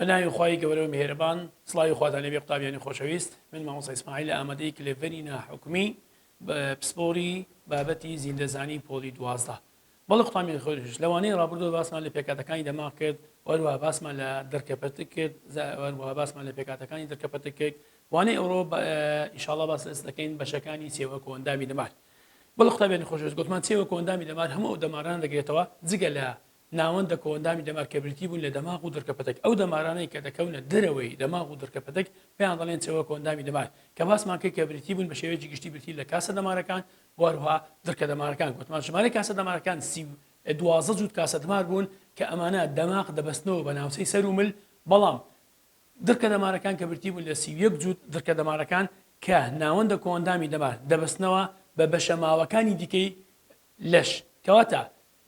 بەناوی خوای گەورە و میهرەبان سڵاوی خواتان لێبێ قوتابیانی خۆشەویست من مامۆستا ئیسماعیل ئامادەی کلێڤەری ناحکومی بە پسپۆری بابەتی زیندەزانی پۆلی دوازدە بەڵێ قوتابیانی خۆریش لەوانەی ڕابردوو باسمان لە پێکاتەکانی دەماغ کرد وەروە باسمان لە دەرکەپەتک کرد وەروە باسمان لە پێکاتەکانی دەرکەپەتک کرد وانەی ئەوڕۆ ئیشاڵا باس ئەس دەکەین بەشەکانی سێوە کۆندامی دەمار بەڵ قوتابیانی خۆشویست گوتمان سێوە کۆندامی دەمار هەموو ئەو دەماران دەگرێتەوە جگە لە ناوەندە کۆندامی دەمار کە بریتی بوون لە دەماغ و دەرکەپەتک ئەو دەمارانەی کە دەکەونە دەرەوەی دەماغ و دەرکەپەتک پێیان دەڵێن چەوە کۆندامی دەمار کە باسمان کرد کە بریتی بوون بە شێوەیەکی گشتی برتی لە کاسە دەمارەکان وهروها درکە دەمارەکان گوتمان ژمارەی کاسە دەمارەکان سی و دوازە جووت کاسە دمار بوون کە ئەمانە دەماغ دەبەستنەوە بە ناوچەی سەر و مل بەڵام درکە دەمارەکان کە برتی بوون لە سی و یەک جووت درکە دەمارەکان کە ناوەندە کۆئەندامی دەمار دەبەستنەوە بە بەشە ماوەکانی دیکەی لەش کەواتە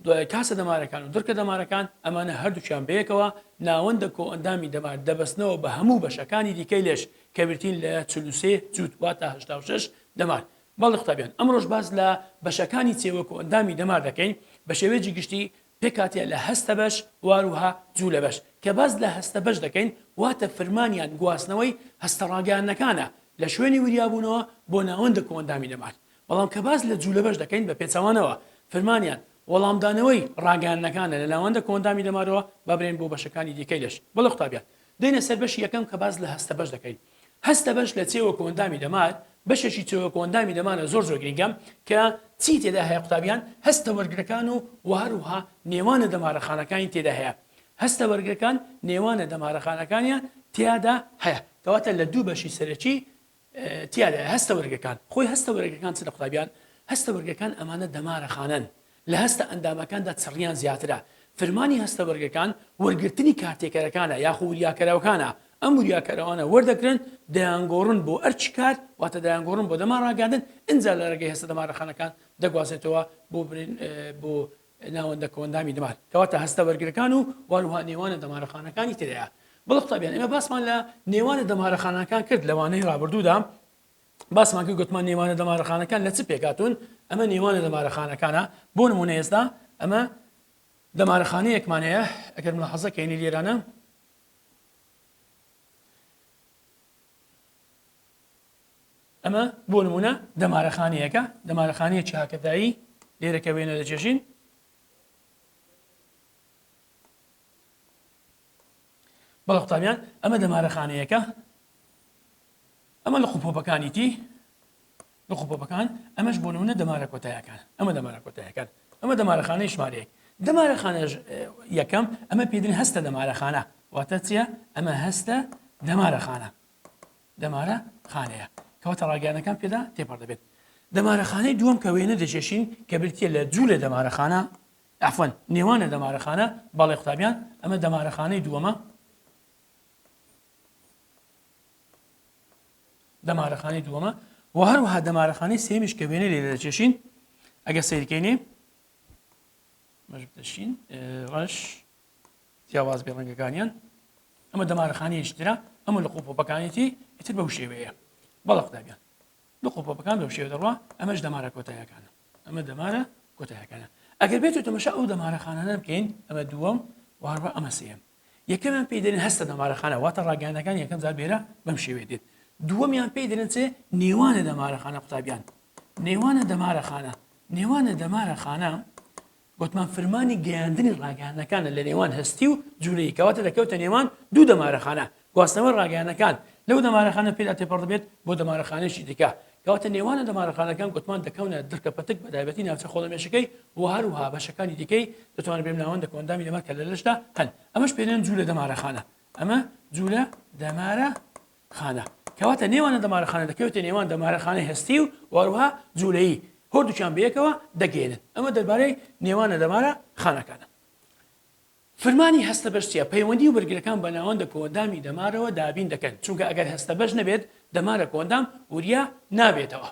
دوای کاسە دەمارەکان و دڕکە دەمارەکان، ئەمانە هەردووکیان بەیەکەوە ناوەندە کۆئەندامی دەمار دەبەستنەوە بە هەموو بەشەکانی دیکەی لەش کە بریتین لە چل و سێ جووت واتە هەشتا و شەش دەمار. بەڵێ قوتابیان ئەمڕۆش باس لە بەشەکانی چێوە کۆئەندامی دەمار دەکەین بە شێوەیەجی گشتی پێکهاتە لە هەستە بەش واروها جوولە بەش کە باس لە هەستە بەش دەکەین واتە فرمانیان گواستنەوەی هەستە ڕاگەیاندنەکانە لە شوێنی وریابوونەوە بۆ ناوەندە کۆئەندامی دەمار بەڵام کە باس لە جوولەبەش دەکەین بە پێچەوانەوە فرمانیان وەڵامدانەوەی ڕاگەیاندنەکانە لە ناوەندە کۆئەندامی دەمارەوە با برێن بۆ بەشەکانی دیکەی لەش بەڵێ قوتابیان دێنە سەر بەشی یەکەم کە باس لە هەستەبەش دەکەین هەستەبەش لە چێوە کۆئەندامی دەمار بەشێکی چێوە کۆئەندامی دەمارە زۆر زۆر گرینگە کە چی تێدا هەیە قوتابیان هەستە وەرگرەکان و وهەروها نێوانە دەمارەخانەکانی تێدا هەیە هەستە وەرگرەکان نێوانە دەمارەخانەکانیان تیادا هەیە کەواتە لە دوو بەشی سەرەکی تیادایە هەستە وەرگەکان خۆی هەستە وەرگەکان چ لە قوتابیان هەستە وەرگەکان ئەمانە دەمارە خانەن لە هەستە ئەندامەکاندا چڕیان زیاترە فرمانی هەستە وەرگەکان وەرگرتنی کارتێکەرەکانە یاخۆ وریاکەرەوەکانە ئەم وریاکەرەوانە وەردەگرن دەیانگۆڕن بۆ ئەرچی کار واتە دەیانگۆڕن بۆ دەما ڕاگەاندن ئەجا لە ڕێگەی هەستە دەمارەخانەکان دەگوازێتەوە بۆ بۆ ناوەندە کۆئەندامی دەمار کەواتە هەستە بەرگرەکان و واروها نێوانە دەمارەخانەکانی ترەیە بڵ قوتابیان ئێمە باسمان لە نێوانە دەمارەخانەکان کرد لەوانەی رابردوودا باسمان کرد گوتمان نێوانە دەمارەخانەکان لە چ پێکاتون ئەمە نێوانە دەمارەخانەکانە بۆ نمونە ئێستا ئەمە دەمارەخانەیەکمان هەیە ئەگەر من حەزە کەینی لێرانە ئەمە بۆ نموونە دەمارەخانەیەکە، دەمارەخانەیەکی هاکەتایی، لێرە کە وێنە دەکێشین، بەڵە قوتابیان ئەمە دەمارەخانەیەکە ئەمە لە قوپۆپەکانیتی لە قوپۆپەکان ئەمەش بۆ نمونە دەمارە کۆتایەکان ئەمە دەمارە کۆتایەکان ئەمە دەمارەخانەی ژمارەیەک دەمارەخانە یەکەم ئەمە پێدن هەستە دەمارەخانە واتە چیە ئەمە هەستە دەمارەخانە دەمارە خانەیە کەواتە ڕاگەیانەکان پێدا تێپەڕ دەبێت دەمارەخانەی دووەم کە وێنە دەکێشین کە برتیە لە جوو لە دەمارەخانە ئەفەن نێوانە دەمارەخانە بەڵێ قوتابیان ئەمە دەمارەخانەی دووەمە دەمارەخانەی دووەمە و هەروها دەمارەخانەی سێمیش کە وێنە لێ دەکێشین ئەگە سیرکەینێ ڕەش جیاواز بێ ڕەنگەکانیان ئەمە دەمارەخانەیەکی ترە ئەمە لە قوپۆپەکانێتی ئیتر بەو شێوەیە بەڵە قوتابیان لە قوپۆپەکان بەو شێوە دەڕوا ئەمەش دەمارە کۆتایەکانە ئەمە دەمارە کۆتایەکانە ئەگەر بێت تەمەشا ئەو دەمارەخانانە بکەین ئەمە دووەم وهڕە ئەمە سێم یەکەمیان پێی دەرێن هەستە دەمارەخانە واتە ڕاگەانەکان یەکەم جار بێرە بەم شێوێ دێت دووەمیان پێی دەرێن چێ نێوانە دەمارەخانە قوتابیان نێوانە دەمارەخانە نێوانە دەمارەخانە گوتمان فرمانی گەیاندنی ڕاگەیاندنەکانە لە نێوان هەستی و جولەیی کەواتە دەکەوتە نێوان دوو دەمارەخانە گواستنەوەی ڕاگەیانەکان لەو دەمارەخانە پێدا تێپەڕدەبێت بۆ دەمارەخانەیەکی دیکە کەواتە نێوانە دەمارەخانەکان گوتمان دەکەونە دڕکە پەتک بەتایبەتی ناوچە خۆڵەمێشەکەی و هەروها بەشەکانی دیکەی دەتوانن بێن ناوەندە کۆندامی دەمار کە لە لەشدا هەن ئەمەش پێێن جوولە دەمارەخانە ئەمە جوولە دەمارە خانە، کەواتە نێوانە دەمارەخانە دەکەوێتە نێوان دەمارەخانەی هەستی و وهەروەها جوولەیی، هۆردووکیان بەیەکەوە دەگەینن. ئەمە دەربارەی نێوانە دەمارە خانەکانە. فرمانی هەستەبەش چیە؟ پەیوەندی و بەرگرەکان بە ناوەندە کۆئەندامی دەمارەوە دابین دەکەن، چونکە ئەگەر هەستەبەش نەبێت دەمارە کۆئەندام وریا نابێتەوە.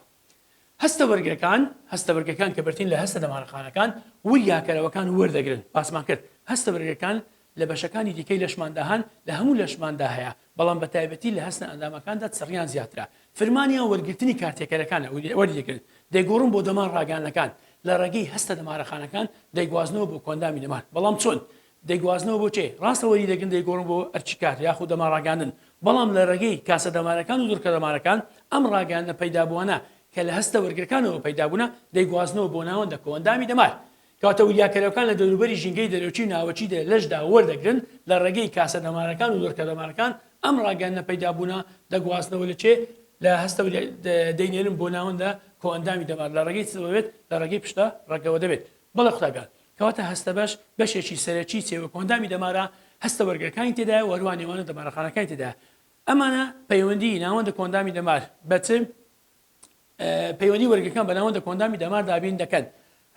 هەستە بەرگەکان، هەستە بەرگەکان کە بەرترین لە هەستە دەمارەخانەکان، وریاکەرەوەکان وەردەگرن، باسمان کرد هەستە بەرگەکان لە بەشەکانی دیکەی لەشماندا هەن، لە هەموو لەشماندا هەیە، بەڵام بە تایبەتی لە هەستە ئەندامەکاندا چڕیان زیاترە، فرمانیان وەرگرتنی کارتێکەرەکانە، وەری دەگرن دەیگۆڕن بۆ دەمار ڕاگەیاندنەکان، لە ڕێگەی هەستە دەمارەخانەکان دەیگوازنەوە بۆ کۆئەندامی دەمار، بەڵام چۆن؟ دەیگوازنەوە بۆ چێ، ڕاستە وەری دەگرن دەیگۆڕن بۆ ئەرکی کار یاخود دەمار ڕاگەیاندن، بەڵام لە ڕێگەی کاسە دەمارەکان و دڕکە دەمارەکان ئەم ڕاگەیاندنە پەیدابووانە کە لە هەستە وەرگرەکانەوە پەیدابوونە دەیگوازنەوە بۆ ناوەندە کۆئەندامی دەمار کەواتە وریاکەرەوەکان لە دەوروبەری ژینگەی دەرەکی و ناوەکی دە لەشدا وەردەگرن لە ڕێگەی کاسە دەمارەکان و دڕکە دەمارەکان ئەم ڕاگەیاندنە پەیدابوونە دەگوازنەوە لە چێ لە هەستە دەینێرن بۆ ناوەندە کۆئەندامی دەمار لە ڕێگەی چ دەبێت لە ڕێگەی پشتە ڕەگەوە دەبێت بەڵێ قوتابیان کەواتە هەستەبەش بەشێکی سەرەکی چێ وەکو ئەندامی دەمارە هەستە وەرگرەکانی تێدایە و هەروە نێوانە دەمارەخانەکانی تێدایە ئەمانە پەیوەندی ناوەندە کۆندامی دەمار بەچ پەیوەندی وەرگەکان بە ناوەندە کۆندامی دەمار دابین دەکەن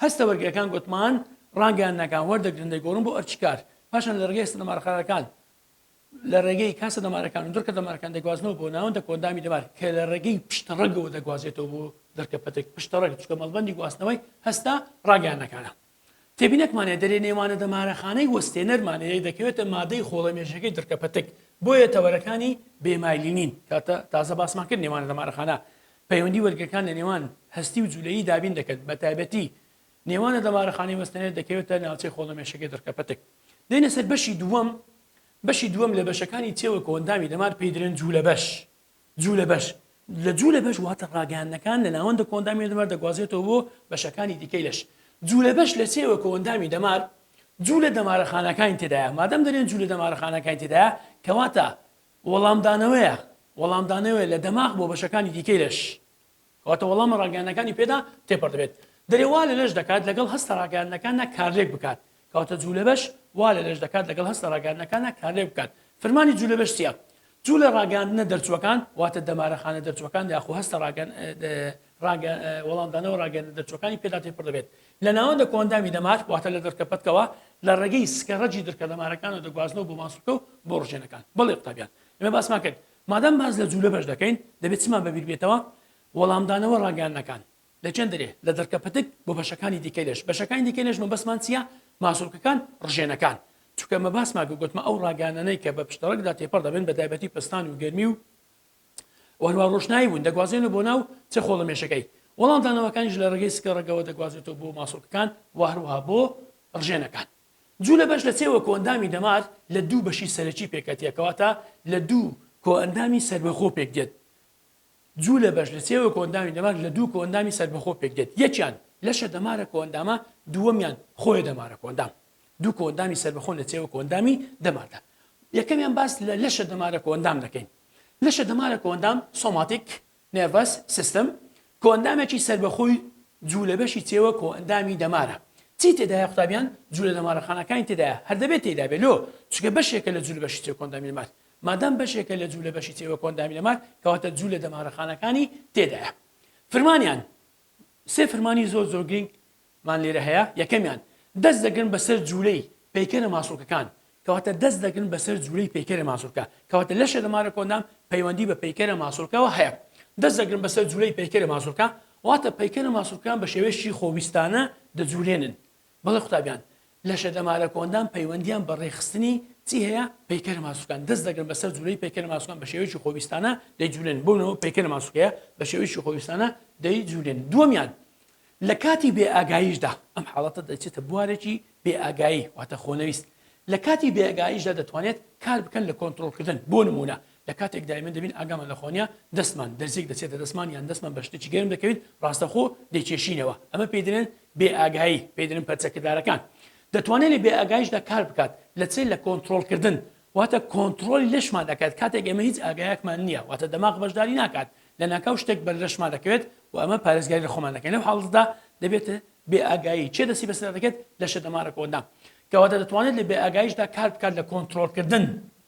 هەستە وەرگەکان گوتمان ڕانگەیان ناکان وەردەگرن دەگۆڕن بۆ ئەرچکار پاشان لە ڕگەی سنەمارخانەکان لە ڕێگەی کاسە دەمارەکان و دڕکە دەمارەکان دەگوازنەوە بۆ ناوەندە کۆئەندامی دەمار کە لە ڕێگەی پشتڕەگەوە دەگوازێتەوە بۆ دڕکە پەتک پشتڕەگ چکە مەڵبەندی گواستنەوەی هەستە ڕاگەیاندنەکانە تێبینەکمانە دەرێ نێوانە دەمارەخانەی وەستێنەرمانەیە دەکەوێتە مادەی خۆڵە مێژەکەی دڕکە پەتک بۆیە تەوەرەکانی بێمایلینین کاتە تازە باسمان کرد نێوانە دەمارەخانە پەیوەندی وەرگەکان لە نێوان هەستی و جولەیی دابین دەکەن بە تایبەتی نێوانە دەمارەخانەی وەستەنێت دەکەوێتە ناوچەی خۆڵەمێشەکەی دڕکەپەتک. دێنە سەر بەشی دووەم، بەشی دووەم لە بەشەکانی چێوە کۆئەندامی دەمار پێی درێن جوولەبەش. جوولەبەش، لە جوولەبەش واتە ڕاگەیاندنەکان لە ناوەندە کۆئەندامییە دەمار دەگوازرێتەوە بۆ بەشەکانی دیکەی لەش. جوولەبەش لە چێوە کۆئەندامی دەمار جوولە دەمارەخانەکانی تێدایە. مادەم دەرێن جوولە دەمارەخانەکانی تێدایە کەواتە وەڵامدانەوەیە وەڵامدانەوەیە لە دەماغ بۆ بەشەکانی دیکەی لەش. واتە وەڵامە ڕاگەیاندنەکانی پێدا تێپەڕ دەبێت. دەرێ وا لە لەش دەکات لەگەڵ هەستە ڕاگەیاندنەکاندا کارلێک بکات. کەواتە جوولەبەش وا لە لەش دەکات لەگەڵ هەستە ڕاگەیاندنەکاندا کارلێک بکات. فرمانی جوولەبەش چییە؟ جوولە ڕاگەیاندنە دەرچووەکان، واتە دەمارە خانە دەرچووەکان یاخو هەستە ڕاگەن ڕاگە وەڵامدانەوە ڕاگەیاندنە دەرچووەکانی پێدا تێپەڕ دەبێت. لە ناوەندە کۆئەندامی دەمار، واتە لە دڕکە پەتکەوە، لە ڕێگەی سکە ڕەجی دڕکە دەمارەکانەوە دەگوازنەوە بۆ ماسولکە و بۆ ڕژێنەکان. بەڵێ قوتابیان. ئێمە باسمان کرد. مادام باس لە جوولە بەش دەکەین، دەبێت چمان بە بیر بێتەوە؟ وەڵامدانەوە، ڕاگەیاندنەکان لە چەند دەرێ، لە دڕکە پتک بۆ بەشەکانی دیکەی لەش. بەشەکانی دیکەی لەش مەبەستمان چییە؟ ماسولکەکان، ڕژێنەکان. چونکە مەباستمان کرد گوتمە ئەو ڕاگەیاندنەی کە بە پشتەڕەگدا تێپەڕ دەبن بە تایبەتی پەستان و گەرمی و هەروەها ڕۆشنایی بوون دەگوازرێنەوە بۆ ناو چ خۆڵەمێشەکەی. وەڵامدانەوەکانیش لە ڕێگەی سکە ڕەگەوە دەگوازرێتەوە بۆ ماسولکەکان و هەروەها بۆ ڕژێنەکان. جولە بەش لە سێ وە کۆئەندامی دەمار لە دوو بەشی سەرەکی پێکەتێ کەواتە لە دوو کۆئەندامی سەربەخۆ پێک دێت جولە بەش لە سێ وە کۆئەندامی دەمار لە دوو کۆئەندامی سەربەخۆ پێک دێت یەکیان لەشە دەمارە کۆئەندامە دووەمیان خۆیە دەمارە کۆئەندام دوو کۆئەندامی سەربەخۆن لە سێوە کۆئەندامی دەماردا یەکەمیان باس لە لەشە دەمارە کۆئەندام دەکەین لەشە دەمارە کۆئەندام سۆماتیک Nervous system، کۆئەندامێکی سەربەخۆی جوو لە بەشی چێوە کۆئەندامی دەمارە چی تێدایە قوتابیان جوو لە دەمارەخانەکانی تێدایە هەر دەبێت تێدا بێت لۆ چونکە بەشێکە لە جوو لە بەشی چێوە کۆئەندامی دەمار مادام بەشێکە لە جوو لە بەشی چێوە کۆئەندامی دەمار کەواتە جوو لە دەمارەخانەکانی تێدایە فرمانیان سێ فرمانی زۆر زۆر گرنگ مان لێرە هەیە، یەکەمیان، دەست دەگرن بەسەر جوولەی پەیکەرە ماسوولکەکان، کەواتە دەست دەگرن بەسەر جوولەی پەیکەرە ماسوولکە، کەواتە لەشێ لە مارە کۆندام پەیوەندی بە پەیکەرە ماسوولکەوە هەیە. دەست دەگرن بەسەر جوولەی پەیکەرە ماسوولکە، واتە پەیکەرە ماسوولکەکان بە شێوەیەکی خۆویستانە دەجوولێنن. بەڵێ قوتابیان، لەشە لە مارە کۆندام پەیوەندیان بە ڕێکخستنی چی هەیە؟ پەیکەرە ماسوولکەکان دەست دەگرن بەسەر جوولەی پەیکەرە ماسوولکەکان بە شێوەیەکی خۆویستانە دەیجوولێنن، بۆ نموونە ئەوە پەیکەرە ماسوولکەیە بە شێوەیەکی خۆویستانە دەیجوولێنن. دووەمیان، لە کاتی بێ ئاگاییشدا، ئەم حاڵەتە دەچێتە بوارێکی بێ ئاگایی واتە خۆنەویست، لە کاتی بێ ئاگاییشدا دەتوانێت کار بکەن لە کۆنترۆڵکردن، بۆ نموونە لە کاتێکدا ئێمە دەبین ئاگامان لە خۆ نییە، دەستمان، دەرزییەک دەچێتە دەستمان یان دەستمان بە شتێکی گەرم دەکەوین، ڕاستەخۆ دەیکێشینەوە، ئەمە پێی دەلێن بێ ئاگایی، پێی دەلێن پەرچەکردارەکان. دەتوانێت لە بێ ئاگاییشدا کار بکات، لە چێ؟ لە کۆنترۆڵکردن، واتە کۆنترۆڵی لەشمان دەکات، کاتێک ئێمە هیچ ئاگایەکمان نییە، واتە دەماغ بەشداری ناکات، لەناکاو شتێک بەر لەشمان دەکەوێت و ئەمە پارێزگاری لە خۆمان دەکەین لەو حاڵەتەدا دەبێتە بێ ئاگایی چێ دەستی بەسەردا دەکەێت لەشە دەمارەکەوەدا کەواتە دەتوانێت لە بێ ئاگایشدا کار بکات لە کۆنتترۆلکردن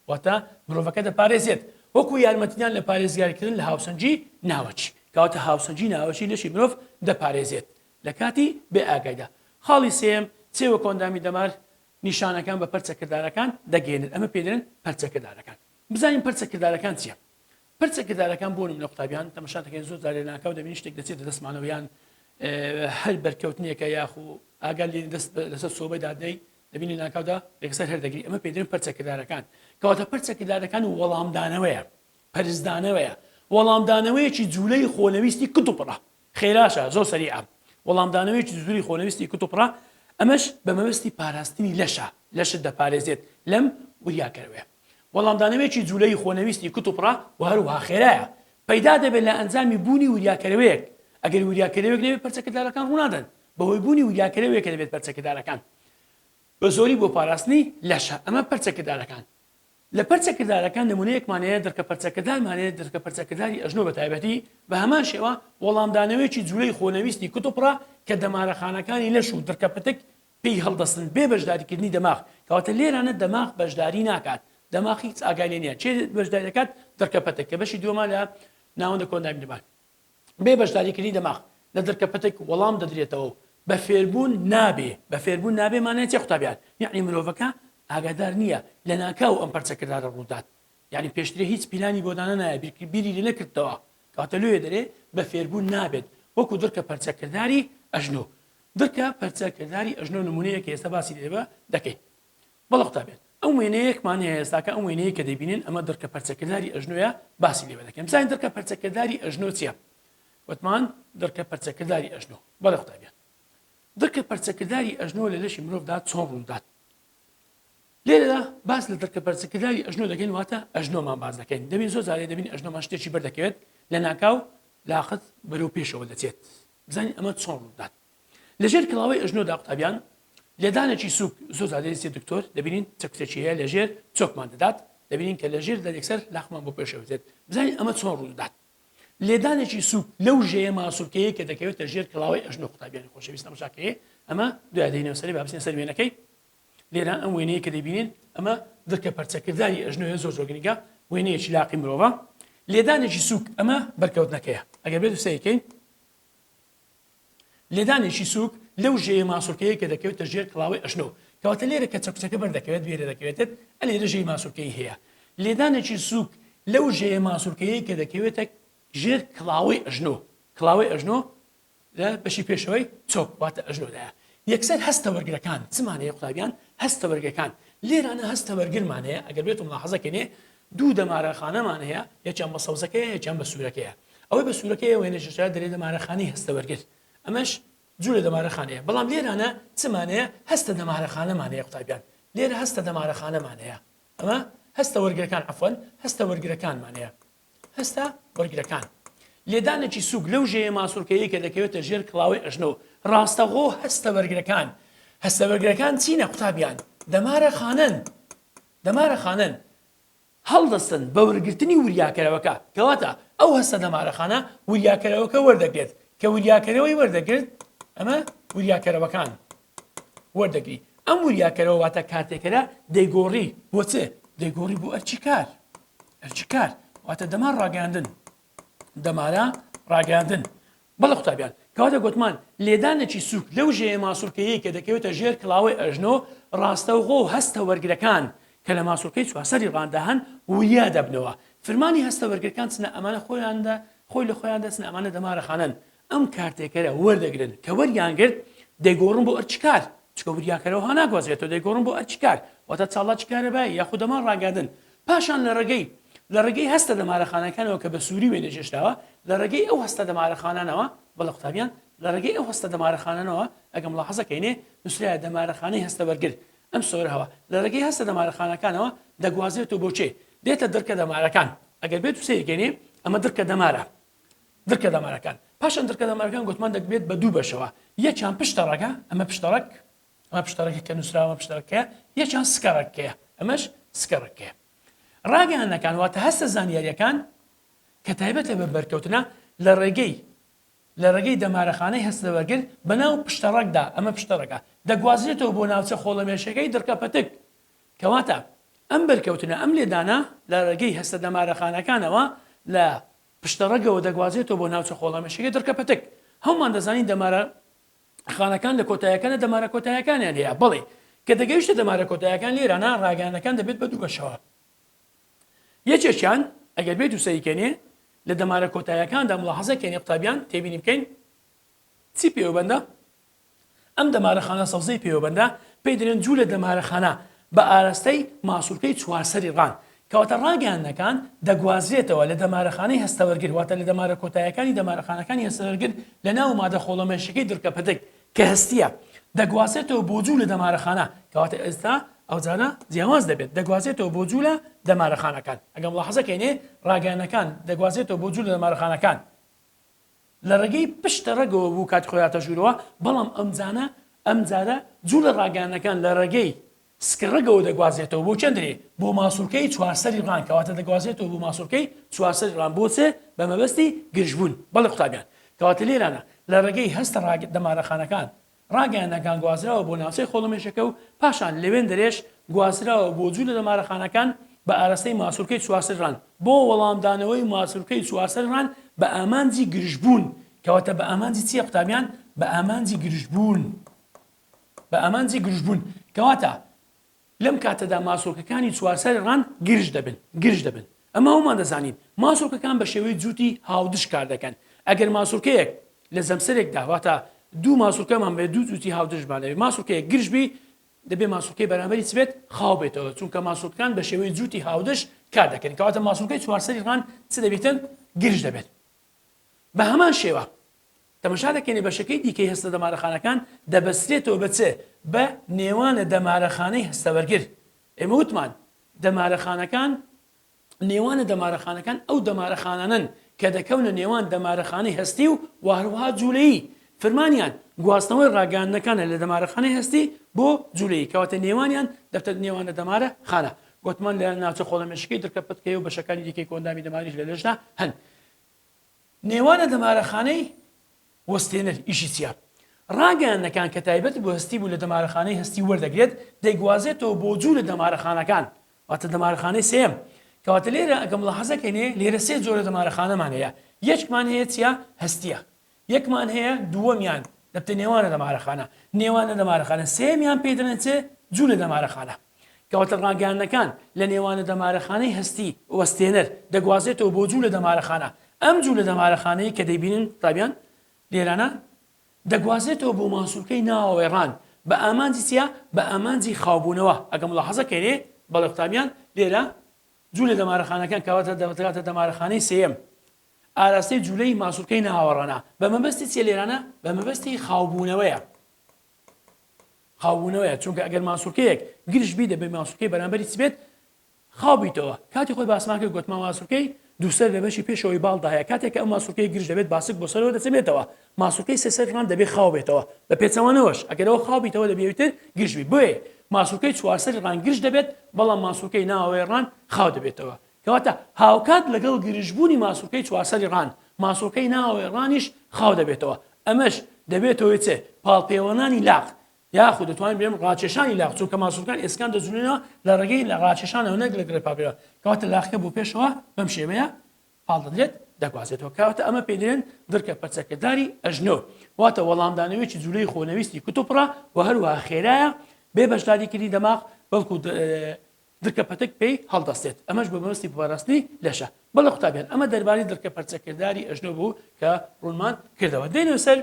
واتە مرۆڤەکە دەپارێزێت وەکو یارمەتیدان لە پارێزگاریکردن لە هاوسەنجی ناوەچی کەواتە هاوسەنجی ناوەچی لەشی مرۆڤ دەپارێزێت لە کاتی بێ ئاگایدا خاڵی سێم چێ وە کۆندامی دەمار نیشانەکان بە پەرچەکردارەکان دەگەێنن ئەمە پێدرێن پەرچەکردارەکان بزانین پەرچەکردارەکان چیە پرچە کردارەکان بۆ نمونە قوتابیان تەمەشا دەکەین زۆر جار لەناکاو دەبینین شتێک دەچێتە دەستمانەوە یان هەر بەرکەوتنێکە یاخو ئاگال لێ دەست لەسەر سۆبەی دادەی دەبینی ناکاودا یەکسەر هەردەگری ئەمە پێدرێن پرچە کردارەکان کەواتە پرچە کردارەکان و وەڵامدانەوەیە پرسدانەوەیە وەڵامدانەوەیەکی جوولەی خۆنەویستی کتوپڕە خێراشە زۆر سەریعە وەڵامدانەوەیەکی زوری خۆنەویستی کتوپڕە ئەمەش بە مەبەستی پاراستنی لەشە لەشت دەپارێزێت لەم وریاکەرەوەیە وەڵامدانەوەیەکی جولەی خۆنەویستی کتوپڕە و هەروەها خێرایە پەیدا دەبێت لە ئەنجامی بوونی وریاکەرەوەیەک ئەگەر وریاکەرەوەیەک نەبێت پەرچەکردارەکان ڕوونادەن بەهۆی بوونی وریاکەرەوەیەکە دەبێت پەرچەکردارەکان بە زۆری بۆ پاراستنی لەشە ئەمە پەرچەکردارەکان لە پەرچە کردارەکان نمونەیەکمان هەیە دڕکە پەرچەکردارمان هەیە دڕکە پەرچەکرداری ئەژنۆ بە تایبەتی بە هەمان شێوە وەڵامدانەوەیەکی جولەی خۆنەویستی کتوپڕە کە دەمارەخانەکانی لەش و دڕکە پتک پێی هەڵدەستن بێ بەشداریکردنی دەماغ کەواتە لێرانە دەماغ بەشداری ناکات دەماغ هیچ ئاگای لێ نیە کێ بەشداری دەکات دڕکە پتک کە بەشی دووەمە لە ناوەندە کۆندایم دەمار بێ بەشداریکردنی دەماغ لە درکە پتک وەڵام دەدرێتەوە و بە فێربوون نابێ، بە فێربوون نابێ مانای چیە قوتابیان؟ یەعنی مرۆڤەکە ئاگادار نیە لەناکاو ئەم پەرچە کردارە ڕوودات، یەعنی پێشترێ هیچ پیلانی بۆ دانەنایە بیرکرد بیری لێ نەکردتەوە، کەواتە لۆیە دەرێ بە فێربوون نابێت وەکو درکە پەرچە کرداری ئەژنۆ. درکە پەرچە کرداری ئەژنۆ نمونەیەکە ئێستا باسی لێ دەکەین. بەڵێ قوتابیان، ئەم وێنەیەکمان هەیە ئێستا کە ئەم وێنەیەی کە دەیبینن ئەمە دڕکە پەرچەکرداری ئەژنۆیە باسی لێوە دەکەین بزانین دڕکە پەرچەکرداری ئەژنۆ چییە وتمان دڕکە پەرچەکرداری ئەژنۆ بەڵێ قوتابیان دڕکە پەرچەکرداری ئەژنۆ لە لەشی مرۆڤدا چۆن ڕوودات لێرەدا باس لە دڕکە پەرچەکرداری ئەژنۆ دەکەین واتە ئەژنۆمان باز دەکەین دەبین زۆر جارێ دەبین ئەژنۆمان شتێکی بەردەکەوێت لە ناکاو لاقت بەرەو پێشەوە دەچێت بزانین ئەمە چۆن ڕوودات لەژێر کڵاوەی ئەژنۆدا قوتابیان لێدانێکی سوک زۆر زادەریستی دکتۆر دەبینین چەکچەکیەیە لەژێر چۆکمان دەدات دەبینین کە لەژێر دەرێکسەر لاخمان بۆ پێشەوتێت بزانین ئەمە چۆن ڕوودات لێدانێکی سوک لەو ژەیە ماسوولکەیە کە دەکەوێتە ژێر کڵاوەی ئەژنۆ قوتابیانی خۆشەویست ئەمشاکەیە ئەمە دوادەینەوە سەری بابسین سەر وێنەکەی لێرا ئەم وێنەیە کە دەبینین ئەمە دڵکە پەرچەکردداری ئەژنۆە زۆر زۆرگنیگە وێنەیەکی لاقی مرۆڤە لێدانێکی سوک ئەمە بەرکەوتنەکەیە ئەگەر بێت سەیکەین لێدانێکی سووک لەو ژێیە ماسوولکەیە کە دەکەوێتە ژێر کڵاوەی ئەژنۆ، کەواتە لێرە کە چەکوچەکە بەردەکەوێت وێرە دەکەوێتت ئە لێرە ژێی ماسوولکەی هەیە. لێدانێکی سووک لەو ژێیە ماسوولکەیەی کە دەکەوێتە ژێر کڵاوەی ئەژنۆ، کڵاوەی ئەژنۆ لە بەشی پێشەوەی چۆک واتە ئەژنۆدایە. یەکسەر هەستە وەرگرەکان چمان هەیە قوتابیان؟ هەستە وەرگرەکان لێرانە هەستە وەرگرمان هەیە ئەگەر بێتم لاحەزە کەێ دوو دەمارەخانەمان هەیە، یەکیان بە سەوزەکەیە یەکیان بە سوورەکەیە، ئەوەی بە سوورەکەیە وێنە ژێرچاوی دەرێ دەمارەخانەی هەستەوەرگر، ئەمەش جوو لە دەمارەخانەیە، بەڵام لێرانە چمان هەیە هەستە دەمارەخانەمان هەیە قوتابیان، لێرە هەستە دەمارەخانەمان هەیە، ئەمە هەستە وەرگرەکان عەفوەن هەستە وەرگرەکانمان هەیە، هەستە وەرگرەکان لێدانێکی سووک لەو ژێیە ماسوولکەیەی کە دەکەوێتە ژێر کڵاوەی ئەژنۆ، ڕاستەوخۆ هەستە وەرگرەکان هەستە وەرگرەکان چینە قوتابیان؟ دەمارەخانەن، دەمارەخانەن هەڵدەستن بە وەرگرتنی وریاکەرەوەکە، کەواتە ئەو هەستە دەمارەخانە وریاکەرەوەکە وەردەگرێت، کە وریاکەرەوەی وەردەگرت ئەمە وریاکەرەوەکان وەردەگری، ئەم وریاکەرەوە واتە کارتێکەرە دەیگۆڕی بۆ چ؟ دەیگۆڕی بۆ ئەرکی کار، ئەرکی کار واتە دەمار ڕاگەیاندن، دەمارە ڕاگەیاندن بەڵێ قوتابیان، کەواتە گۆتمان لێدانێکی سووک لەو ژێیە ماسوولکەیەی کە دەکەوێتە ژێر کڵاوەی ئەژنۆ ڕاستەوخۆ و هەستە وەرگرەکان کە لە ماسوولکەی چوارسەری ڕاندا هەن وریا دەبنەوە فرمانی هەستە وەرگرەکان چنە ئەمانە خۆیان دە خۆی لە خۆیان دەچنە ئەمانە دەمارەخانەن ئەم کارتێکەرە وەردەگرن کە وەریان گرت دەیگۆڕن بۆ ئەرکی کار چکە وریاکەرەوە هەناگوازرێتەوە دەیگۆڕن بۆ ئەرکی کار واتە چاڵاکی کارەبای یاخود دەمان ڕاگەیاندن پاشان لە ڕێگەی لە ڕێگەی هەستە دەمارەخانەکانەوە کە بە سووری وێنە جێشتاوە، لە ڕێگەی ئەو هەستە دەمارەخانانەوە، بەڵێ قوتابیان، لە ڕێگەی ئەو هەستە دەمارەخانانەوە، ئەگەر مولاحەزە کەینێ، نووسرایە دەمارەخانەی هەستە وەرگر، ئەم سۆرهوه، لە ڕێگەی هەستە دەمارەخانەکانەوە دەگوازرێتەوە بۆ چێ؟ دێتە دڕکە دەمارەکان. ئەگەر بێتو سەیر کەینێ، ئەمە دڕکە دەمارە. دڕکە دەمارەکان. پاشان دڕکە دەمارەکان گۆتمان دەکبێت بە دوو بەشەوە. یەکیان پشتەڕەگە، ئەمە پشتەڕەگ، ئەمە پشتەڕەکە کە نووسراوە پشتەڕەکە یەکیان سکەڕەکەیە ئەمەش سکەڕەکەیە ڕاگەیانەکان واتە هەستە زانیاریەکان کە تایبەتە بە بەرکەوتنە لە ڕێگەی لە ڕێگەی دەمارەخانەی هەستەوەگر بەناو پشتەڕەکدا ئەمە پشتەڕەکە دەگوازرێتەوە بۆ ناوچە خۆڵەمێشەکەی دڕکە پەتک کەواتە ئەم بەرکەوتنە ئەم لێدانە لە ڕێگەی هەستە دەمارەخانەکانەوە لە پشتەڕەگەوە دەگوازێتەوە بۆ ناوچە خۆڵەمێشەکەی دڕکە پەتک هەومان دەزانین دەمارە خانەکان لە کۆتایەکانە دەمارە کۆتایەکانیان هەیە بەڵێ کە دەگەیشتە دەمارە کۆتایەکان لێرانە ڕاگەیانەکان دەبێت بە دوو بەشەوە یەکێکیان ئەگەر بێت و سەریکەێ لە دەمارە کۆتایەکاندا مڵحەزەکەێنێ قوتابیان تێبینی بکەین چی پێوەبندە ئەم دەمارە خانە سەوزەی پێوەبندە پێی درێن جوو لە دەمارە خانە بە ئاراستەی ماسوولکەی چوارسەری ڕان کەواتە ڕاگەیاندنەکان دەگوازرێتەوە لە دەمارەخانەی هەستەوەرگر واتە لە دەمارە کۆتایەکانی دەمارەخانەکانی هەستەوەرگر لە ناو مادە خۆڵەمێشیەکەی دڕکە پەتک کە هەستیە دەگوازێتەوە بۆ جوو لە دەمارەخانە کەواتە ئێستا ئەوجارە جیاواز دەبێت دەگوازێتەوە بۆ جوو لە دەمارەخانەکان ئەگەم ڵە حەزەکەینێ ڕاگەیانەکان دەگوازێتەوە بۆ جوو لە دەمارەخانەکان لە ڕێگەی پشتە ڕەگەوە بوو کاتی خۆی هاتە ژوورەوە، بەڵام ئەمجانە ئەم جارە جوولە ڕاگەیاندنەکان لە ڕێگەی سکڕەگەوە دەگوازێتەوە بۆ چەندرێ بۆ ماسوولکەی چوارسەری ڕان کەواتە دەگوازێتەوە بۆ ماسوولکەی چوارسەری ڕان بۆ چێ بە مەبەستی گرژبوون بەڵێ قوتابیان کەواتە لێرانە لە ڕێگەی هەستە ڕاگە دەمارەخانەکان ڕاگەیاندنەکان گوازراوە بۆ ناوچەی خۆڵەمێشەکە و پاشان لە وێندەرێش گوازراوە بۆ جوولە لە مارەخانەکان بە ئاراستەی ماسولکەی چوارسەرران بۆ وەڵامدانەوەی ماسولکەی چوارسەرران بە ئامانجی گرژبوون کەواتە بە ئامانجی چیە قوتابیان بە ئامانجی گرژبوون بە ئامانجی گرژبوون کەواتە لەم کاتەدا ماسولکەکانی چوارچاری ڕاند گرژ دەبن گرژ دەبن ئەمە ئەومان دەزانین ماسولکەکان بە شێوەی جووتی هاودش کار دەکەن ئەگەر ماسولکەیەک لە جەمسەرێکدا واتە دوو ماسولکەمان بێ دوو جووتی هاودژمان لەوێ ماسولکەیەک گرژ بی دەبێ ماسولکەی بەرامبەری چ بێت خاو بێتەوە چونکە ماسولکان بە شێوەی جووتی هاودش کار دەکەن کەواتە ماسولکەی چوارسەری ڕان چ دەبێتن گرژ دەبێت بە هەمان شێوە تەمەشا دەکەینە بەشەکەی دیکەی هەستە دەمارەخانەکان دەبەسترێتەوە بە چ؟ بە نێوانە دەمارەخانەی هەستەبەرگر. ئێمە وتمان دەمارەخانەکان نێوانە دەمارەخانەکان ئەو دەمارەخانانەن کە دەکەونە نێوان دەمارەخانەی هەستی و وهروها جولەیی فرمانیان گواستنەوەی ڕاگەیاندنەکانە لە دەمارەخانەی هەستی بۆ جولەیی کەواتە نێوانیان دەبتە نێوانە دەمارە خانە وتمان لە ناوچە خۆڵەمێشکەی درکە پتکەیە و بەشەکانی دیکەی کۆئەندامی دەماریش لە لەشدا هەن. نێوانە دەمارەخانەی وەستێنەر، ئیشی چیە؟ ڕاگەیاندنەکان کە تایبەت بە هەستی بوو لە دەمارەخانەی هەستی وەردەگرێت، دەیگوازێتەوە بۆ جوو لە دەمارەخانەکان، واتە دەمارەخانەی سێیەم. کەواتە لێرە ئەگە ملاحەزە کەینێ لێرە سێ جۆرە دەمارەخانەمان هەیە، یەکمان هەیە چیە؟ هەستیە. یەکمان هەیە دووەمیان دەبتە نێوانە دەمارەخانە. نێوانە دەمارەخانە سێیەمیان پێی دەڵێن چێ؟ جوو لە دەمارەخانە. کەواتە ڕاگەیاندنەکان لە نێوانە دەمارەخانەی هەستی وەستێنەر دەگوازێتەوە بۆ جوولە دەمارەخانە، ئەم جوولە دەمارەخانەیە کە دەیبینن قوتابیان لێرانە، دەگوازێتەوە بۆ ماسولکەی ناوەڕان بە ئامانجی چیە؟ بە ئامانجی خاوبوونەوە، ئەگەر ملاحەزە کەێ بەڵێ قوتابیان لێرە جوولە دەمارەخانەکان کەواتە دەگاتە دەمارەخانەی سێیەم ئاراستەی جوولەی ماسولکەی ناوەڕانە بە مەبەستی چیە لێرانە بە مەبەستی خاوبوونەوەیە. خاوبوونەوەیە چونکە ئەگەر ماسولکەیەک گرژ بی دەبێت ماسولکەی بەرامبەری چ بێت خاو بیتەوە کاتی خۆی باسمان کرد گوتمان ماسولکەی دووسەر لە بەشی پێشەوەی باڵدا هەیە کاتێک کە ئەم ماسولکەی گرژ دەبێت باسک بۆ سەرەوە دەچەمێتەوە ماسولکەی سێ سەر ڕان دەبێت خاو بێتەوە بە پێچەوانەوەش ئەگەرەوە خاو بیتەوە دەبێت ئیتر گرژ بی بۆیە ماسولکەی چوارسەری ڕان گرژ دەبێت بەڵام ماسولکەی ناوەوەی ڕان خاو دەبێتەوە کەواتە هاوکات لەگەڵ گرژبوونی ماسولکەی چوارسەری ڕان، ماسولکەی ناوەوەی ڕانیش خاو دەبێتەوە، ئەمەش دەبێتە هۆی چ؟ پاڵپێوەنانی لاق، یاخود دەتوانین بڵێین ڕاکێشانی لاق، چونکە ماسولکان ئێسکان دەجوڵێنەوە لە ڕێگەی ڕاکێشانەوە نەک لە گڕێ پاڵپێوە، کەواتە لاقەکە بۆ پێشەوە بەم شێوەیە پاڵ دەدرێت دەگوازێتەوە، کەواتە ئەمە پێی دەڵێن دڕکە پەرچەکرداری ئەژنۆ، واتە وەڵامدانەوەیەکی جولەی خۆنەویستی کتوپڕە و هەروەها خێرایە بێ بەشداریکردنی دەماغ، بەڵکو درکە پەتک پێی هەڵدەستێت ئەمەش بە مەبەستی پاراستنی لەشە. بەڵێ قوتابیان ئەمە دەربارەی درکە پەرچەکرداری ئەژنۆ بوو کە ڕوونمان کردەوە. دێینە سەر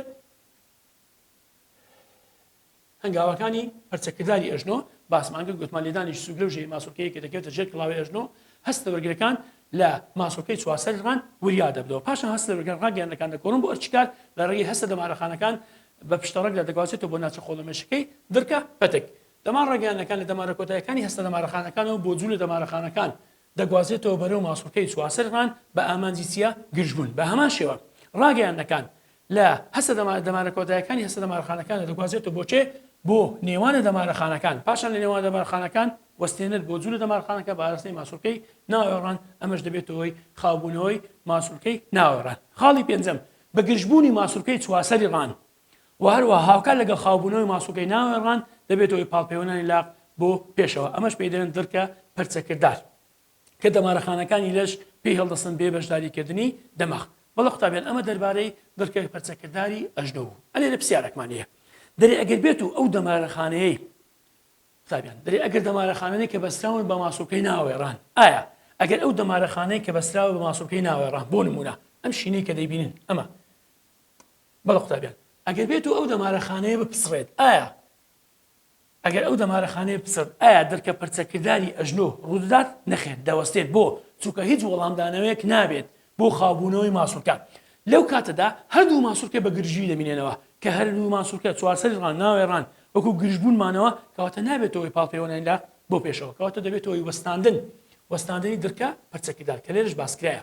هەنگاوەکانی پەرچەکرداری ئەژنۆ باسمان کرد گوتمان لێدانی سوک لەو ژێ ماسۆکەیە کە دەکەوێتە ژێر کڵاوی ئەژنۆ هەستە وەرگرەکان لە ماسۆکەی چوارسەر ڕان وریا دەبدەوە پاشان هەستە وەرگران ڕاگەیاندەکان دەکۆڕن بۆ ئەرچکار لە ڕێگەی هەستە دەمارەخانەکان بە پشتەڕەکدا دەگوازێتەوە بۆ ناچە خۆڵەمێشەکەی درکە پەتک دەمار ڕەگەیاندنەکان لە دەمارە کۆتایەکانی هەستە دەمارەخانەکانەوە بۆ جوولە دەمارەخانەکان دەگوازێتەوە بەرەو ماسوڵکەی چوارسەرمان بە ئامانجی چیە گرژبوون بە هەمان شێوە ڕاگەیاندنەکان لە هەستە دەمارە دەمارە کۆتایەکانی هەستە دەمارەخانەکان دەگوازێتەوە بۆ چێ بۆ نێوانە دەمارەخانەکان پاشان لە نێوان دەمارخانەکان وەستێنەر بۆ جوولە دەمارخانەکە بە ئاراستەی ماسوولکەی ناوێڕان ئەمەش دەبێتەوەی خاوبوونەوەی ماسوولکەی ناوێڕان خاڵی پێنجەم بە گرژبوونی ماسوولکەی چواسەری ڕان و هەروەها هاوکات لەگەڵ خاوبوونەوەی ماسوڵکەی ناوەوەی ڕان دەبێتە هۆی پاڵپێوەنانی لاق بۆ پێشەوە ئەمەش پێی دەلێن دڕکە پەرچەکردار کە دەمارە خانەکانی لەش پێی هەڵدەستن بێ بەشداری کردنی دەماغ. بەڵێ قوتابیان ئەمە دەربارەی دڕکە پەرچەکرداری ئەژنۆ بوو. ئەلێرە پسیارەکمان هەیە دەرێ ئەگەر بێت و ئەو دەمارە خانەیەی قوتابیان دەرێ ئەگەر دەمارە خانەی کە بەستراون بە ماسوڵکەی ناوەوەی ڕان ئایا ئەگەر ئەو دەمارە خانەی کە بەستراوە بە ماسوڵکەی ناوەوەی ڕان بۆ نموونە ئەم شینەی کە دەیبینن ئەمە بەڵێ قوتابیان ئەگەر بێت و ئەو دەمارەخانەیە بپسڕێت ئایا ئەگەر ئەو دەمارەخانەیە بپسڕێت ئایا درکە پرچەکرداری ئەژنۆ ڕوودەدات نەخێر دەوەستێت بۆ چونکە هیچ وەڵامدانەوەیەک نابێت بۆ خاوبوونەوەی ماسولکە لەو کاتەدا هەردوو ماسولکە بە گرژیی دەمینێنەوە کە هەردوو ماسولکە چوارسەری ڕان ناوێ ڕان وەکو گرژبوون مانەوە کەواتە نابێتەوەی پاڵپێوەنانی لە بۆ پێشەوە کەواتە دەبێتەوەی وەستاندن وەستاندنی درکە پرچەکردار کە لێرەش باسکرایە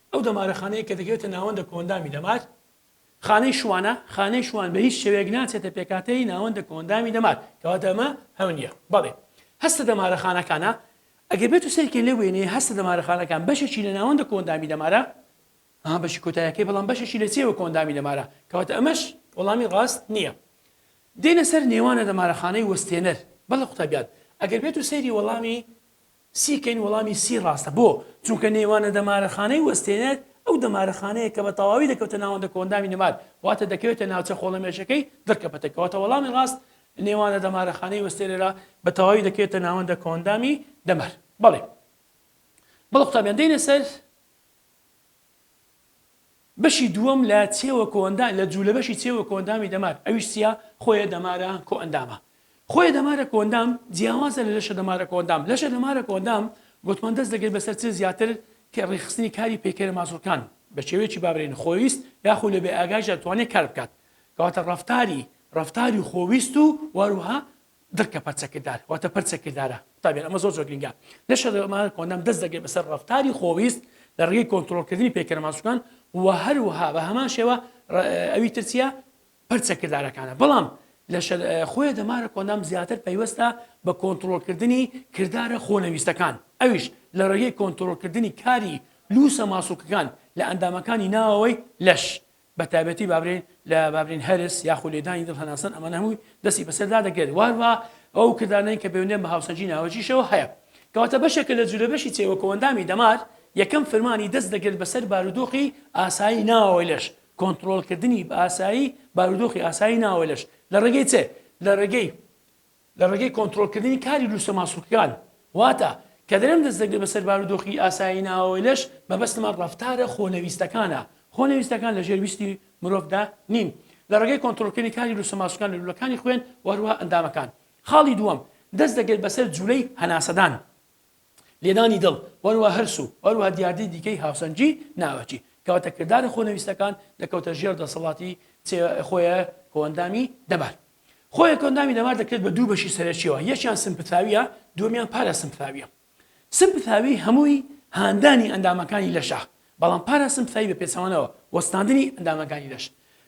ئەو دەمارە خانەیە کە دەکەوێتە ناوەندە کۆئەندامی دەمار، خانەی شوانە، خانەی شوان بە هیچ شێوەیەک ناچێتە پێکهاتەی ناوەندە کۆئەندامی دەمار، کەواتە ئەمە هەو نییە، بەڵێ هەستە دەمارە خانەکانە، ئەگەر بێت و سەیرکەین لەو وێنەیە هەستە دەمارە خانەکان بەشێکی لە ناوەندە کۆئەندامی دەمارە، ئەها بەشی کۆتایەکەی بەڵام بەشێکی لە چێوە کۆئەندامی دەمارە، کەواتە ئەمەش وەڵامی ڕاست نییە. دێینە سەر نێوانە دەمارە خانەی وەستێنەر، بەڵێ قوتابیان ئەگەر بێت و سەیری وەڵامی سی کەین وەڵامی سی ڕاستە بۆ؟ چونکە نێوانە دەمارەخانەی وەستێنەر ئەو دەمارەخانەیە کە بە تەواوی دەکەوتە ناوەندە کۆئەندامی نەمار واتە دەکەوێتە ناوچە خۆڵەمێشەکەی دڕکە پەتە کەواتە وەڵامی ڕاست نێوانە دەمارەخانەی وەستێنەرە بە تەواوی دەکەوێتە ناوەندە کۆئەندامی دەمار بەڵێ بەڵێ قوتابیان دێنە سەر بەشی دووەم لە چێوە کۆئەندا لە جوولە بەشی چێوە کۆئەندامی دەمار ئەویش چیە خۆیە دەمارە کۆئەندامە خۆیە دەمارە کۆئەندام جیاوازە لە لەشە دەمارە کۆئەندام لەشە دەمارە کۆئەندام گۆتمان دەست دەگرێت بەسەر چ زیاتر کە ڕێکخستنی کاری پەیکەرە ماسوڵکان بە شێوەیەکی بابرێن خۆویست یاخو لە بێ ئاگایشدا توانێت کار بکات کەواتە ڕەفتاری ڕەفتاری خۆویست و وەروها درکە پەرچە کردار واتە پەرچە کردارە قوتابیان ئەمە زۆر زۆر گرنگە لە شەرەمانە کۆنەم دەست دەگەی بەسەر ڕفتاری خۆویست لە ڕێگەی کۆنتترۆلکردنی پێکەرەماسوکان و هەروها بە هەمان شێوە ئەوی ترچە پەرچە کردارەکانە بەڵام لە خۆی دەمارە کۆنام زیاتر پەیوەستە بە کۆنتترۆلکردنی کردارە خۆنەویستەکان ئەویش لە ڕێگەی کۆنتترۆلکردنی کاری لوسە ماسوکەکان لە ئەندامەکانی ناوەوەی لەش بە تایبەتی بابرین لە بابرین هەرس یاخو لێدانی دڵ هەناسەن ئەمانە هەمووی دەستی بەسەر دا دەگرێت واروا ئەو کردانەین کە بەوێنەن بە هاوسەنگی ناوەکیشەوە هەیە کەواتە بەشێکە لە جولە بەشی چێوە کۆئەندامی دەمار یەکەم فرمانی دەست دەگرێت بەسەر بارودۆخی ئاسایی ناوەوەی لەش کۆنتڕۆڵ کردنی بە ئاسایی بارودۆخی ئاسایی ناوەوەی لەش لە ڕێگەی چێ؟ لە ڕێگەی لە ڕێگەی کۆنترۆڵکردنی کاری لووسە ماسوولکەکان، واتە، کە درەنگ دەست دەگرێت بەسەر بارودۆخی ئاسایی ناوەوەی لەش، مەبەستمە ڕەفتارە خۆنەویستەکانە، خۆنەویستەکان لە ژێر ویستی مرۆڤدا نین، لە ڕێگەی کۆنترۆڵکردنی کاری لووسە ماسوولکان لە لوولەکانی خوێن و هەروەها ئەندامەکان. خاڵی دووەم، دەست دەگرێت بەسەر جوولەی هەناسەدان، لێدانی دڵ و هەروەها هەرس و هەروەها دیاردەی دیکەی هاوسەنگی ناوەکی، کەواتە کردارە خۆنەویستەکان دەکەوتە ژێر دەسەڵاتی چێ، خۆێ، کۆئەندامی دەمار. خۆیەکەوە ناوی نەمار دەکرێت بە دوو بەشی سەرەکیەوە یەکیان سمپثاویە دووەمیان پاراسمپثاویە سمپثاوی هەمووی هاندانی ئەندامەکانی لەشە بەڵام پاراسمپثاوی بە پێچەوانەوە وەستاندنی ئەندامەکانی لەش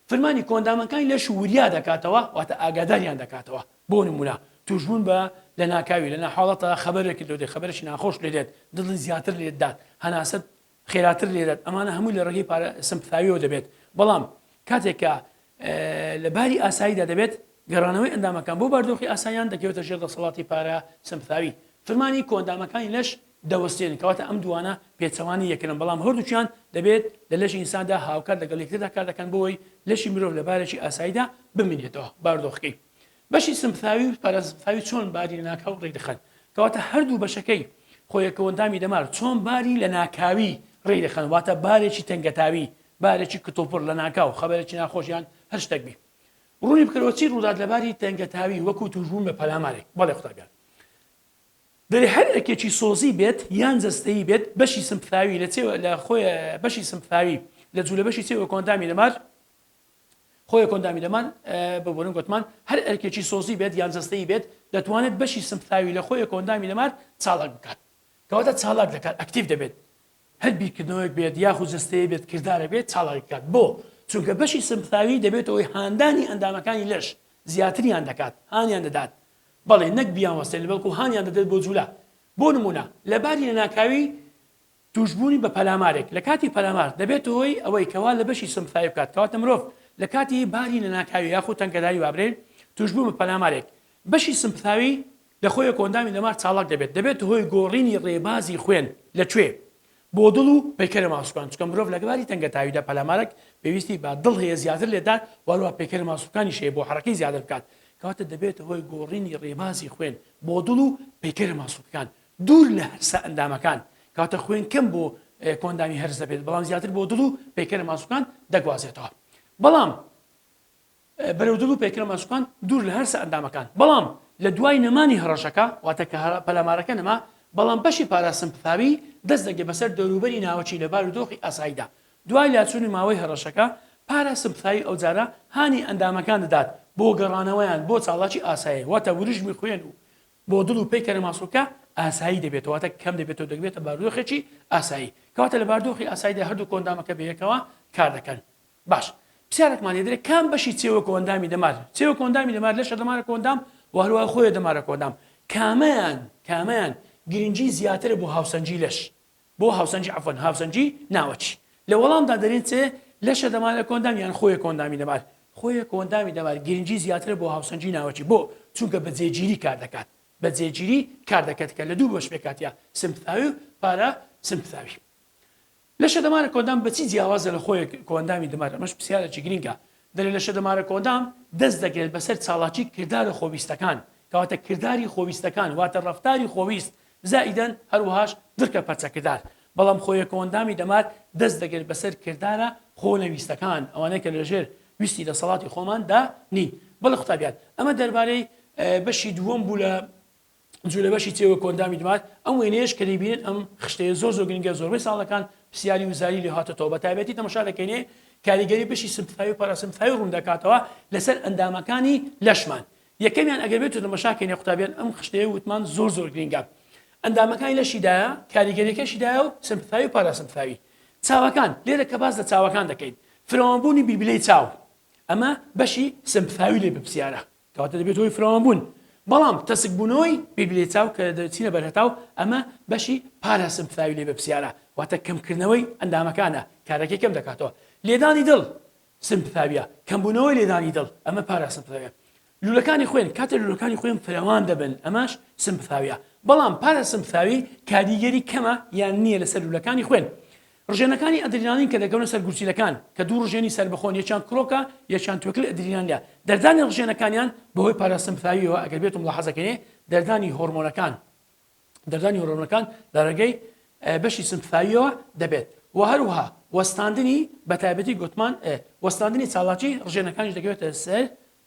فرمانی کۆندامەکانی لەش وریا دەکاتەوە واتە ئاگاداریان دەکاتەوە بۆ نمونە توشبوون بە لە ناکاوی لە ناحاڵەتە خەبەرێکی لۆ دێت خەبەرێکی ناخۆش لێ دێت دڵی زیاتر لێت دات هەناسەت خێراتر لێدات ئەمانە هەمووی لە ڕێگەی پارە سەمپتاویەوە دەبێت بەڵام کاتێک کە لە باری ئاساییدا دەبێت گەڕانەوەی ئەندامەکان بۆ باردۆخی ئاسایان دەکەوێتە ژێر دەسەڵاتی پارە سەمپتاوی فرمانی کۆندامەکانی لەش دەوەستێن کەواتە ئەم دوانە پێچەوانی یەکرن بەڵام هەردووچیان دەبێت لە لەشی ئینساندا هاوکات لەگەڵ یەکتردا کار دەکەن بۆی لەشی مرۆڤ لە بارێکی ئاساییدا بمینێتەوە باردۆخەکەی بەشی سمپثاوی و پاراسمپثاوی چۆن باری لەناکاو ڕێکدەخەن کەواتە هەردوو بەشەکەی خۆیەکەوەندامی دەمار چۆن باری لە ناکاوی ڕێی دەخەن واتە بارێکی تەنگەتاوی بارێکی کتوپڕ لە ناکاو خەبەرێکی ناخۆشیان هەر شتێک بێ ڕوونی بکەرەوە چی ڕوودات لە باری تەنگەتاوی وەکو توشبوون بە پەلامارێک بەڵێ قوتابیان دەێ هەر ئەرکێکی سۆزی بێت یان جەستەی بێت بەشی سمپثاوی لە چێوە لە خۆی بەشی سمپثاوی لە جوولە بەشی چێوە کۆندامی دەمار خۆێ کۆندامی دەمان ببورن گوتمان هەر ئەرکێکی سۆزی بێت یان جەستەی بێت دەتوانێت بەشی سمپتاوی لە خۆێ کۆندامی دەمار چاڵک بکات کەواتە چاڵک دەکات ئەکتیف دەبێت هەر بیرکردنەوەیەک بێت یاخود جستەیە بێت کردارە بێت چاڵکات بۆ چونکە بەشی سمپتاوی دەبێتەوەی هاندانی ئەندامەکانی لەش زیاتریان دەکات هانیان دەدات بەڵێ نەک بیان وەستێن بەڵکو هانیان دەدێت بۆ جوولە بۆ نمونە لەباری لە ناکاوی تووشبوونی بە پەلامارێک لە کاتی پەلامار دەبێتە هۆی ئەوەی کە وا لە بەشی سمفاوی بکات کەواتە مرۆڤ لە کاتی باری لەناکاوی یاخود تەنگەداری وابرێین تووشبوون بە پەلامارێک بەشی سمپثاوی لە خۆیەک و ئەندامی دەمار چاڵاک دەبێت دەبێتە هۆی گۆڕینی ڕێبازی خوێن لە کوێ بۆ دڵ و پەیکەرە ماسولکان چونکە مرۆڤ لە باری تەنگەتاویدا پەلامارێک پێویستی بە دڵ هەیە زیاتر لێدات واروها پەیکەرە ماسولکانیش هەیە بۆ حەرەکەی زیادە بکات کەواتە دەبێتە هۆی گۆڕینی ڕێبازی خوێن بۆ دڵ و پەیکەرە ماسولکان دوور لە هەرسە ئەندامەکان کەواتە خوێن کەم بۆ کۆئەندامی هەرس دەبێت بەڵام زیاتر بۆ دڵ و پەیکەرە ماسوکان دەگوازێتەوە بەڵام بەرەو دڵ و پەیکەرە ماسوکان دوور لە هەرسە ئەندامەکان بەڵام لە دوای نەمانی هەڕەشەکە واتە کە پەلامارەکە نەما بەڵام بەشی پاراستن پفاوی دەست دەگێ بەسەر دەوروبەری ناوەچی لە بار و دۆخی ئاساییدا دوای لاچوونی ماوەی هەڕەشەکە پاراستن پفاوی ئەوجارە هانی ئەندامەکان دەدات بۆ گەڕانەوەیان بۆ چاڵاکی ئاسایی واتە وریژمی خوێن و بۆ دڵ و پەیکەرە ماسولکە ئاسایی دەبێتەوە واتە کەم دەبێتەوە دەگبێتە بارودۆخێکی ئاسایی کەواتە لە باردۆخی ئاساییدا هەردوو کۆندامەکە بەیەکەوە کار دەکەن باش پرسیارێکمان لێ دەرێت کام بەشی چێوە کۆندامی دەمار چێوە کۆندامی دەمار لەشە دەمارە کۆندام و هەروە خۆیە دەمارە کۆندام کامەیان کامەیان گرنگی زیاترە بۆ هاوسەنگی لەش بۆ هاوسەنگی عەفوەن هاوسەنگی ناوەکی لە وەڵامدا دەرێن چ لەشە دەمارە کۆندام یان خۆیە کۆندامی دەمار خۆیە کۆندامی دەمار گرنگی زیاترە بۆ هاوسەنگی ناوەکی بۆ چونکە بە جێگیری کار دەکات بە جێگیری کار دەکات کە لە دوو بەش پێکاتیا سمتاوی و پارە سمتاوی لەشە دەمارە کۆندام بەچی جیاوازە لە خۆیە کۆندامی دەمار ئەمەش پرسیارێکی گرنگە درێنەشە دەمارە کۆدام دەست دەگرێت بەسەر چالاکی کردارە خۆویستەکان، کەواتە کرداری خۆویستەکان واتە ڕەفتاری خۆویست زائیدەن هەروەهاش درکە پەرچەکردار، بەڵام خۆیەکۆندامی دەمار دەست دەگرێت بەسەر کردارە خۆنەویستەکان ئەوانەی کە لەژێر ویستی دەسەڵاتی خۆماندا نین. بەڵێ قوتابیان ئەمە دەربارەی بەشی دووەم بوو لە جولە بەشی چێ وە کۆندامی دمار ئەم وێنەیەش کە دەیبینن ئەم خشتەیە زۆر زۆر گرنگە زۆربەی ساڵەکان پرسیاری وزاری لێ هاتۆتەوە بە تایبەتی تەمەشا دەکەینێ کاریگەری بەشی سمتفاوی پاراسمتفاوی ڕوون دەکاتەوە لەسەر ئەندامەکانی لەشمان یەکەمیان ئەگەر بێت تەمەشاکەینێ قوتابیان ئەم خشتەیە وتمان زۆر زۆر گرنگە ئەندامەکانی لەشیدایە کاریگەریەکەشیدایە و سمتفاوی و پاراسمتفاوی چاوەکان لێرە کە باز لە چاوەکان دەکەین فرەوانبوونی بیلبیلەی چاو ئەمە بەشی سمتفاوی لێ بپسیارە کەواتە دەبێتە هۆی فراوانبوون. بەڵام تەسکبوونەوەی بیبلێچاو کە دەچینە بەر هەتاو ئەمە بەشی پارا سمپفراوی لێ بەپسیارە واتە کەمکردنەوەی ئەندامەکانە کارەکەی کەم دەکاتەوە. لێدانی دڵ سمپفاویە کەمبوونەوەی لێدانی دڵ ئەمە پارا سمپفراویە. لوولەکانی خوێن کاتێ لوولەکانی خوێن فراوان دەبن ئەمەش سمپفاویە بەڵام پارا سمپفاوی کاریگەری کەمە یان نییە لەسەر لوولەکانی خوێن. ڕژێنەکانی ئەدرینالین کە دەکەونە سەر گورچیلەکان، کە دوو ڕژێنی سەربەخۆن یەکیان کرۆکە یەکیان توێکڵی ئەدرینالە، دەردانی ڕژێنەکانیان بەهۆی پاراسمپثاوییەوە، ئەگەر بێتو ملاحەزە کەینێ دەردانی هۆڕمۆنەکان دەردانی هۆڕمۆنەکان لە ڕێگەی بەشی سمپثاوییەوە دەبێت و هەروەها وەستاندنی بەتایبەتی گۆتمان ئێ وەستاندنی چاڵاکی ڕژێنەکانیش دەکەوێتە سەر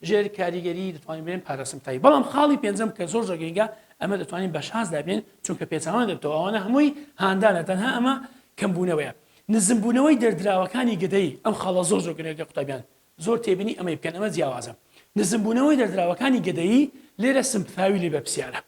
ژێر کاریگەری دەتوانین بێن پاراسمتایی بەڵام خاڵی پێنجەم کە زۆر زۆگەنگە ئەمە دەتوانین بە شازدا بێن چونکە پێچوان دەبتەوە ئەوانە هەمووی هاندانە تەنها ئەمە کەمبوونەوەیە نزمبوونەوەی دەردراوەکانی گەدەی ئەم خاڵە زۆر زۆر گرنگە قوتابیان زۆر تێبینی ئەمەی بکەن ئەمە جیاوازە نزمبوونەوەی دەردراوەکانی گەدەی لێرە سمپثاوی لێ بەرپسیارە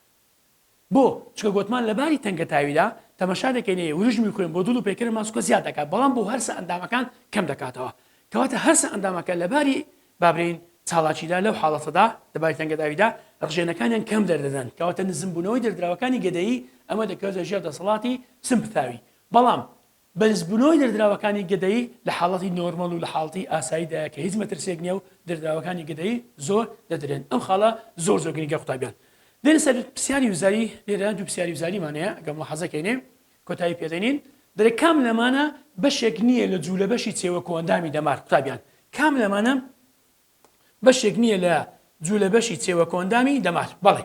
بۆ؟ چونکە گۆتمان لە باری تەنگەتاویدا تەمەشا دەکەین ئێ وریژمی خوێن بۆ دڵ و پەیکەرە ماسولکە زیاد دەکات بەڵام بۆ هەرسە ئەندامەکان کەم دەکاتەوە کەواتە هەرسە ئەندامەکە لە باری با برێین چالاکیدا لەو حاڵەتەدا لە باری تەنگەتاویدا ڕژێنەکانیان کەم دەردەدەن کەواتە نزمبوونەوەی دەردراوەکانی گەدەیی ئەمە دەکەوێتە ژێر دەسەڵاتی سمپتاوی بەڵام بەرزبونەوەی دەردراوەکانی گەدەیی لە حاڵەتی نۆرمەڵ و لە حاڵتی ئاسایی دایە کە هیچ مەترسیەک نیە و دەردراوەکانی گەدەیی زۆر دەدرێن ئەم خاڵە زۆر زۆر گرنگە قوتابیان دێنە سەر پرسیاری وزاری لێرە دوو پرسیاری وزاریمان هەیە ئەگەر مولاحەزە کەینێ کۆتایی پێ دێنین دەرێ کام لەمانە بەشێک نیە لە جولە بەشی چێوە کۆئەندامی دەمار قوتابیان کام لەمانە بەشێک نیە لە جولە بەشی چێوە کۆئەندامی دەمار بەڵێ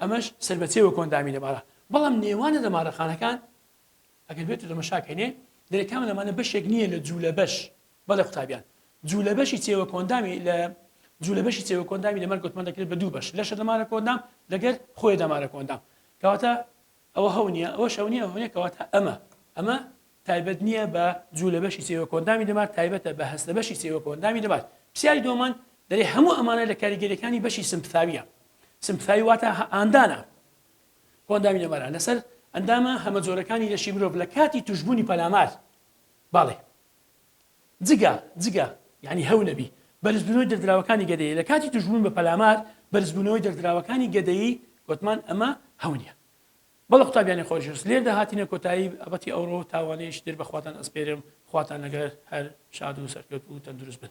ئەمەش سەربەچێ وەک ئەندامی دەمارە، بەڵام نێوانە دەمارەخانەکان ئەگەر بێتو تەمەشا کەینێ دەرێ کامە لەمانە بەشێک نییە لە جوولە بەش بەڵێ قوتابیان جوولە بەشی چێوە کۆندامی لە جوولە بەشی چێوە کۆندامی دەمار گوتمان دەکرێت بە دوو بەش لەشە دەمارە کۆندام لەگەر خۆی دەمارە کۆندام کەواتە ئەوە هەو نییە، ئەوەش هەو نییە، ئەوە هەو نییە، کەواتە ئەمە، ئەمە تایبەت نییە بە جوو لە بەشی سێ وەکۆئەندامی دەمار، تایبەتە بە هەست لە بەشی سێ وەکۆئەندامی دەمار. پرسیاری دووەمان دەلێ هەموو ئەمانە لە کاریگەریەکانی بەشی سمپثاویە، سمپثاوی واتە ئاندانە کۆئەندامی دەمارە لەسەر ئەندامە هەمەجۆرەکانی لەشی مرۆڤ لە کاتی توشبوونی پەلامار. بەڵێ. جگە، جگە، یانی هەو نەبی. بەرزبوونەوەی دەردراوەکانی گەدەیی، لە کاتی تووشبوون بە پەلامار، بەرزبوونەوەی دەردراوەکانی گەدەیی، گۆتمان ئەمە هەو نیە. بەڵێ قوتابیانی خۆشەویست، لێردا هاتینە کۆتایی بابەتی ئەوڕۆ و تاوانەیەکی تر بە خواتان ئەسپێرم، خواتان لەگەر، هەر شاد و سەرکەوتوو و تەندروست بن.